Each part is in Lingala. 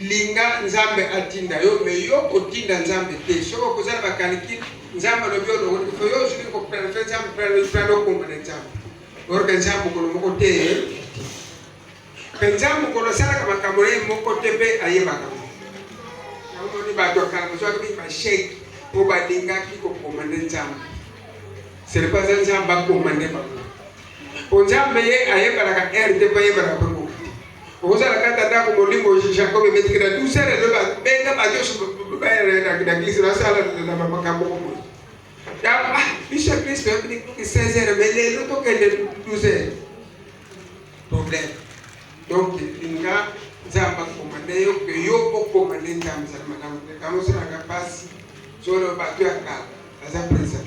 Linga nzambe atinda yo mais yo kotinda nzambe te soki okozala ba calicule nzambe alobi olongoli kofo yo ozuki koprene fe nzambe prene okomba na nzambe orke nzambe mokolo moko te mpe nzambe mokolo asalaka makambo na ye moko te mpe ayebaka omoni bato ya kala bazwaki mingi basheke mpo balingaki kokoma nde nzambe selepa aza nzambe akoma nde bango Po Nzambe ye ayebanaka heure te po ayebanaka pe ngoki te. Okozala kaka ndako molimo Jacob ebetiki na 12 heures elo ba benga ba nyoso na eglise na sala na makambo ko boye. Ya ah biso eglise to yebini ki 16 heures mais lelo to kende 12 heures. Problème. Donc linga Nzambe akomande yo ke yo okomande Nzambe za malamu. Kango sala ka pasi. Zolo bato ya kala. Aza present.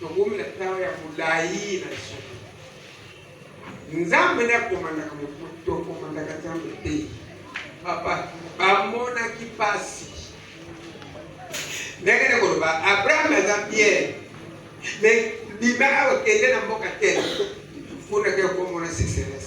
Tokomi na ntango ya molai na lisolo. Nzambe nde akomandaka moto, tokomandaka Nzambe te. Papa, bamonaki mpasi ndenge nde koloba Abraham aza Pierre me bima awa kende na mboka te kuna ke okomona succès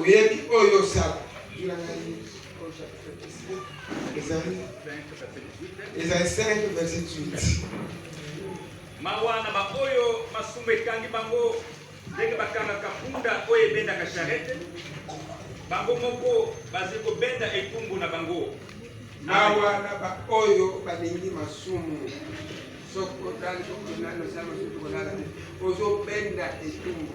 Oyebi oyo osala ezali ezali 5 verset 8 mawa na baoyo masumu ekangi bango ndenge bakangaka mpunda oyo ebendaka charete bango moko bazali kobenda etumbu na bango mawa na baoyo balingi masumu soko otali okonani osala masumu tokolala te ozobenda etumbu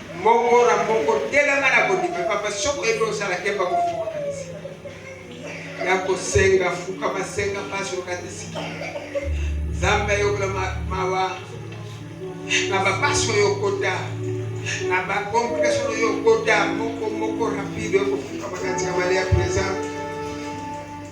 Moko na moko telema na kondima papa soko ebe osala kemba kofuka ya kosenga fuka masenga mpasi okatisiki nzambe ayokela mawa na bapasi oyo okota na bakomplikation oyo okota moko moko rapide okofuka makati ya mali ya presente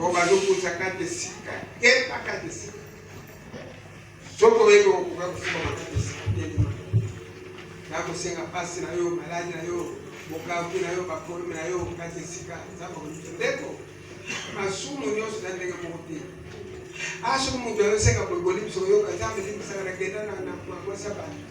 Oyo bazokuta kati esika keba kati esika soki oyebi okoka kofumama kati esika telema nakosenga mpasi na yo maladi na yo bokabuki na yo bapolime na yo kati esika nzambe akoyika ndeko masumu nyonso na ndenge moko te asoki moto ayosenga boyeboli biso koyoka nzambe limbisaka na kenda na mwasi ya bato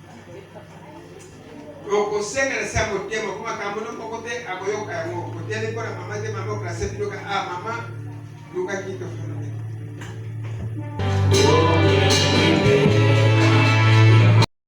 okosengela sa motema mpo makambo no moko te akoyoka yango koteli mpo na mama te mama oklase biloka a ah, mama lukaki tofuna